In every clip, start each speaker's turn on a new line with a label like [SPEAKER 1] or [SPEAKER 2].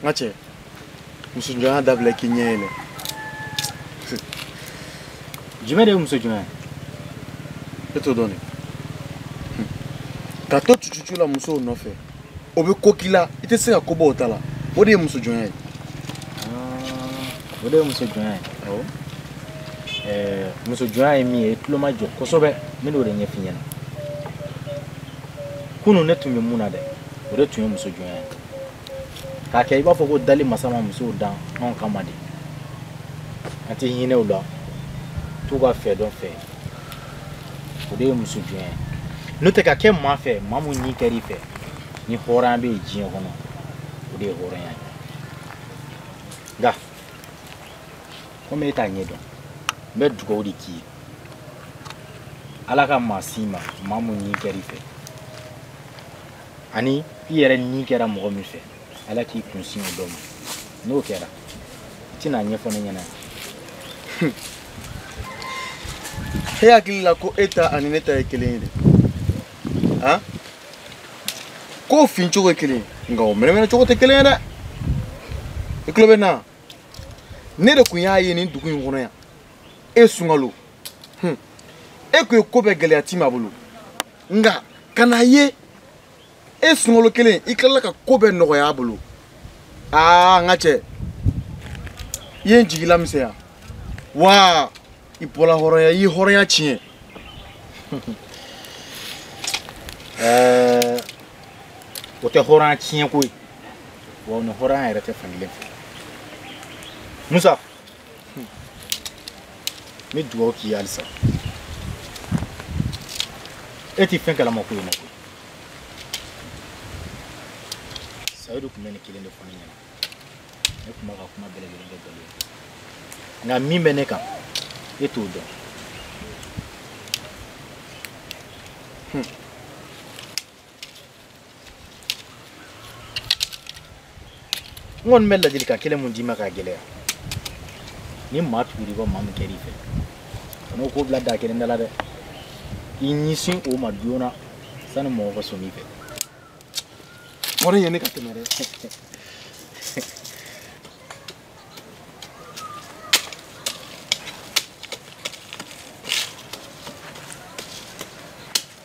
[SPEAKER 1] n ka cɛ musojɔnya dabila k'i ɲɛ yɛlɛ jumɛn de ye muso jɔnya ye e t'o dɔn de ka to cucucu la musow nɔfɛ o bɛ ko k'i la i tɛ se ka ko bɔ o ta la o de ye muso jɔnya ye o de ye muso jɔnya ye awɔ muso jɔnya ye min ye i tulo ma jɔ kosɛbɛ n bɛn'o de ɲɛf'i ɲɛna kunu ne tun bɛ mun na dɛ o de tun ye muso jɔnya ye k'a kɛ i b'a fɔ ko dali masa ma musow dan anw kama de an tɛ hinɛ u la t'u ka fɛ dɔn fɛ o de ye muso jɔnya ye n'o tɛ ka kɛ maa fɛ maa mun ni kɛr'i fɛ ni hɔrɔnya bɛ yen diɲɛ kɔnɔ o de ye hɔrɔnya ye nka komi e t'a ɲɛ dɔn n bɛ dugawu de k'i ye ala ka maa s'i ma maa mun ni kɛr'i fɛ ani i yɛrɛ ni kɛra mɔgɔ min fɛ ala k'i kun sin o dɔ ma n'o kɛra i tɛn'a ɲɛfɔ ne ɲɛna e hakili la ko e ta ani ne ta ye kelen ye de han k'o fin cogo ye kelen ye nka o mɛnɛmɛnɛ cogo tɛ kelen ye dɛ i tulo bɛ n na ne de tun y'a ye nin dugu in kɔnɔ yan e sunkalo e tun ye ko bɛɛ gɛlɛya tima bolo nka ka n'a ye e sunkalo kelen i tilala ka ko bɛɛ nɔgɔya a bolo aa n ka cɛ i ye n jigila misɛnya wa i bɔla hɔrɔnya i ye hɔrɔnya tiɲɛ ɛɛ o tɛ hɔrɔnya tiɲɛko ye wa o ni hɔrɔnya yɛrɛ tɛ fankelen fɛ musa n bɛ dugawu k'i ye halisa e tɛ fɛn kalama ko in na koyi sayidu tun bɛ nin kelen de fɔ ne ɲɛna ne tun b'a ka kuma bɛɛ lajɛlen kɛ nkalon ye nka min bɛ ne kan e t'o dɔn hmm. n kɔni bɛ ladilikan kelen mun d'i ma k'a gɛlɛya ni maa tugul'i kɔ maa min kɛr'i fɛ kan'o ko bila da kelen da la dɛ i ɲɛsin o ma joona sani mɔgɔ ka sɔn i fɛ wuli yen ne ka tɛmɛ dɛ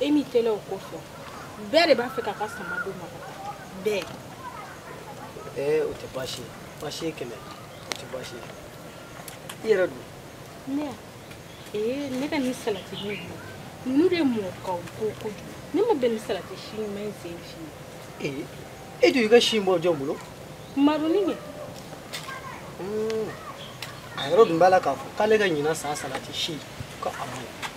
[SPEAKER 1] e ni tile o ko fɔ bɛɛ de b'a fɛ k'a ka sama don ma bɛɛ ee o tɛ baasi ye baasi ye kɛmɛ o tɛ baasi ye i yɛrɛ dun ne ee ne ka ni salati ne ye ninnu de mɔɔ kaw ko kojugu ne ma bɛn ni salati si ɲuman in sen si ye ee e dun i ka si bɔ jɔn bolo maroni ye a yɛrɛ dun b'a la k'a fɔ k'ale ka ɲinan san salati si ko a man ɲi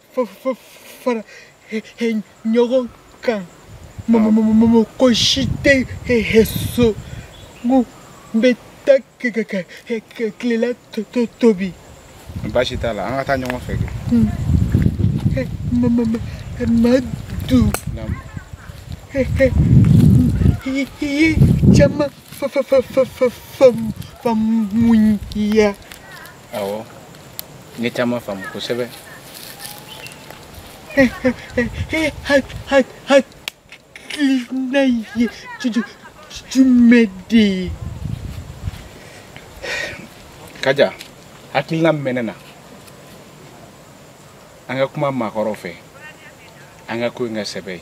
[SPEAKER 1] fara ɲɔgɔn kan mɔgɔ si tɛ so n ko n bɛ taa tilela tobi baasi t'a la an ka taa ɲɔgɔn fɛ kɛ madu i ye caman faamuya awɔ n ye caman faamu kosɛbɛ hakilina ye jumɛn de ye kaja hakilina min bɛ ne na an ka kuma maakɔrɔw fɛ an ka ko in ka sɛbɛya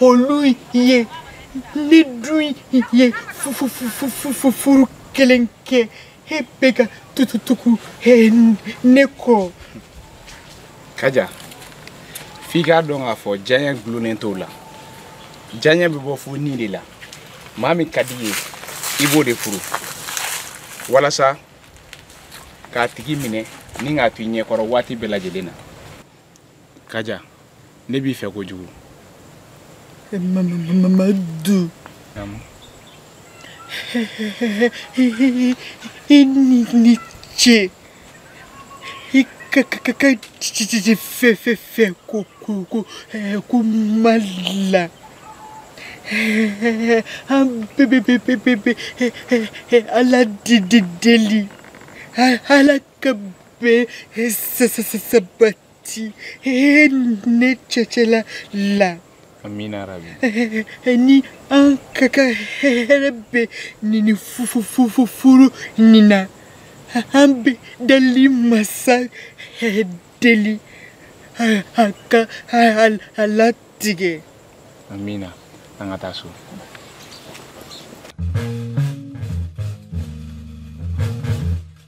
[SPEAKER 1] olu ye ne dun ye furu kelen kɛ e bɛ ka tututugu ne kɔ kaja f'i k'a dɔn k'a fɔ diyanye dulonnen t'o la diyanye bɛ bɔ fo ni de la maa min ka di i ye i b'o de furu walasa k'a tigi minɛ ni k'a to i ɲɛkɔrɔ waati bɛɛ lajɛlen na kaja ne b'i fɛ kojugu mamadu i ni ce i ka fɛ fɛ fɛ ko ko ko kuma la an bɛɛ bɛ bɛ bɛ bɛ ala deli ala ka bɛn sabati ne cɛ cɛ la la amina rabi ni an ka ka hɛrɛ bɛ nin furu nin na an bɛ dali masa deli a ka a latigɛ amina an ka taa so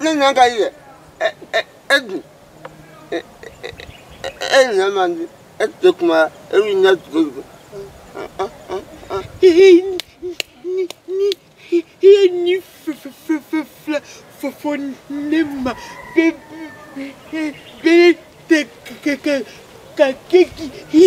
[SPEAKER 1] ne ɲɛ ka yɛ e dun e ɲɛ man di e tɛ kuma e b'i ɲɛ tugu tugu iye ni fɛfɛfɛfɛ fɔfɔ ne ma bɛ bɛ tɛ kɛ kɛ ka kɛ k'i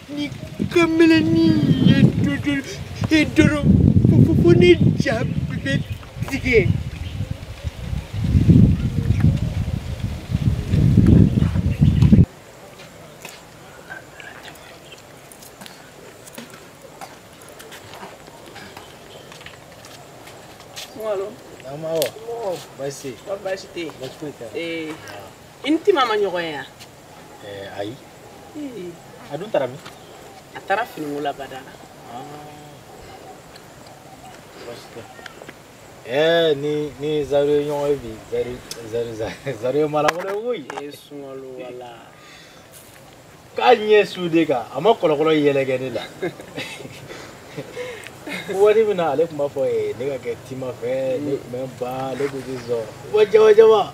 [SPEAKER 1] nin kamalennin ye dodo e dɔrɔn fo fo ne ja bɛ tigɛ. Ama o. Basi. Basi tɛ. Basi tɛ. Eh. I ni Tima ma ɲɔgɔn ye wa. eh, ayi a dun taara min a taara finiko la badala Eh, ne ni zaro ye ɲɔgɔn ye bi zari zari zari zari ye mara wɛrɛ koyi e sunkalo wala k'a ɲɛ su de kan a ma kɔlɔkɔlɔ yɛlɛ kɛ ne la waati min na ale tun b'a fɔ ye ne ka kɛ tima fɛ ne tun bɛ n ban ale tun tɛ sɔn wa jaba jaba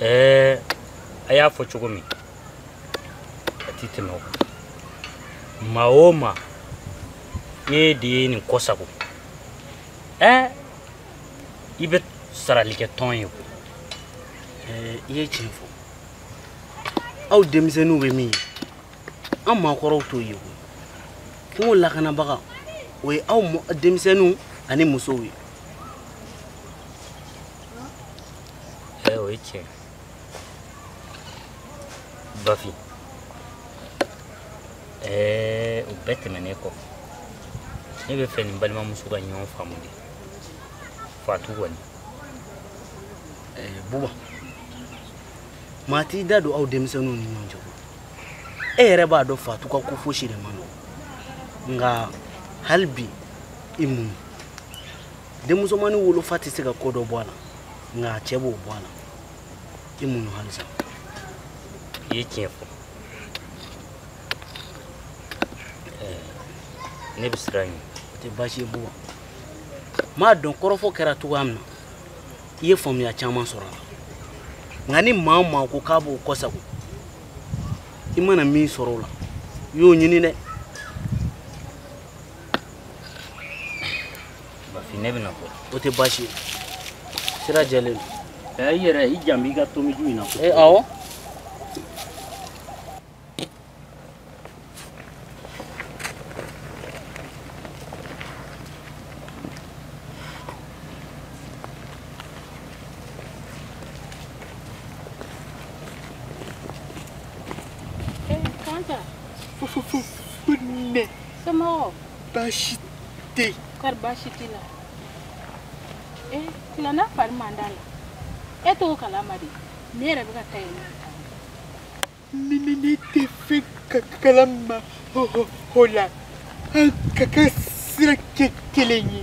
[SPEAKER 1] ɛɛ a y'a fɔ cogo min a tɛ tɛmɛ o kan maa o maa ne de ye nin ko sago ɛɛ i bɛ sarali kɛ tɔn ye koyi eh, i ye tiɲɛ fɔ aw denmisɛnninw bɛ min ye an maakɔrɔw t'o ye koyi furu lakanabaga o ye aw denmisɛnninw ani musow ye eh, o ye tiɲɛ bafin eh, o bɛɛ tɛmɛnen kɔfɛ ne b'a fɛ i n'i balimamuso ka ɲɔgɔn faamu de fatu ani eh, buba mati da don aw denmisɛnninw ni ɲɔgɔn cɛ ko e yɛrɛ b'a dɔn fatu ka ko fosi de man nɔgɔ nka hali bi i muɲu denmusomannin wolofa tɛ se ka ko dɔ bɔ a la nka a cɛ b'o bɔ a la i muɲu halisa i ye tiɲɛ fɔ ne bɛ siran ɲɛ o tɛ baasi ye bɔ m'a dɔn kɔrɔfɔ kɛra cogoya min na i ye faamuya caman sɔrɔ a la nka ni maa o maa ko k'a b'o kɔsago i mana min sɔrɔ o la i y'o ɲini dɛ bafin ne bɛna bɔ o tɛ baasi ye sira jɛlen don i yɛrɛ i jant'i ka tomiju in na awɔ baasi tɛ yen. kari baasi t'i la e tilana fari man d'a la e t'o kalama dɛ ne yɛrɛ bɛ ka taa yen nɔ. ne ne ne tɛ fɛn kalama o la an k'an ka sira kɛ kelen ye.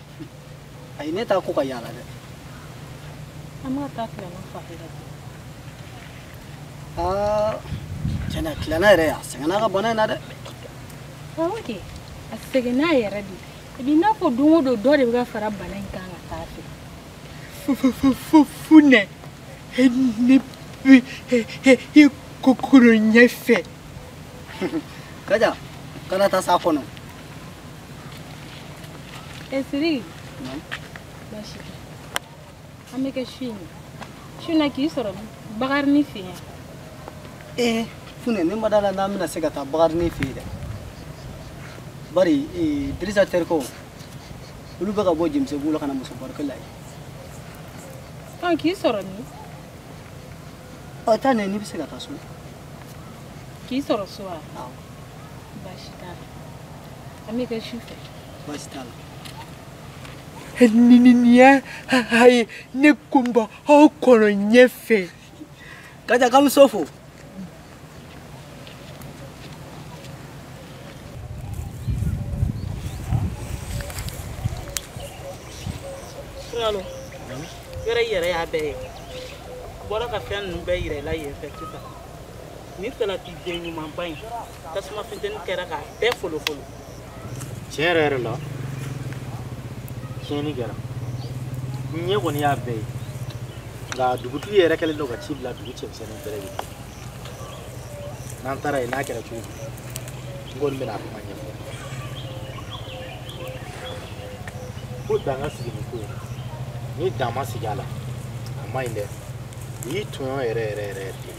[SPEAKER 1] ayi ne taa ko ka yaala dɛ an b'a taa tilana fa yɛrɛ aa tiɲɛ na tilana yɛrɛ a sɛgɛnna ka bana in na dɛ awɔ kɛ a sɛgɛnna yɛrɛ de i b'i n'a fɔ don o don dɔ de bɛ ka fara bana in kan ka taa a fɛ funɛ ne bɛ i kɔkɔnɔ ɲɛfɛ kaja kana taa s'a kɔnɔ Esiri. Baasi tɛ. An bɛ kɛ su in na. Su in na k'i sɔrɔ min? Bakarini fɛ yen. Ee Funɛ ne ma d'a la n'an bɛna se ka taa Bakarini fɛ yen dɛ. Bari ee Dirisa terikɛw olu bɛ ka bɔ Jemusebugu la ka na Musobarikɛ la yen. Ɔ k'i sɔrɔ min? ɔ taa nɛ n'i bɛ se ka taa so k'i sɔrɔ so wa baasi t'a la an bɛ kɛ su fɛ baasi t'a la niniya haye ne ko n b'aw kɔnɔ ɲɛfɛ ka taa ka muso fo Salo yɔrɔ i yɛrɛ y'a bɛɛ ye a bɔra ka fɛn ninnu bɛɛ yira i la yen fɛ sisan nin salati den ɲumanba in tasuma funteni kɛra k'a bɛɛ folofolo tiɲɛ yɛrɛ yɛrɛ la tiɲɛni kɛra n ɲɛ kɔni y'a bɛɛ ye nka dugutigi yɛrɛ kɛlen don ka ci bila dugu cɛmisɛnninw bɛɛ lajɛlen n'an taara yen n'a kɛra cogo n kɔni bɛna kuma ɲɛfɔ ko dan ka sigi nin ko in ni dan ma sigi a la a ma ɲi dɛ o y'i tɔɲɔ yɛrɛ yɛrɛ yɛrɛ yɛrɛ de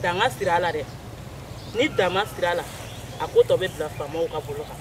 [SPEAKER 1] dan ka sigi a la dɛ ni dan ma sigi a la a ko tɔ bɛ bila faamaw ka bolo kan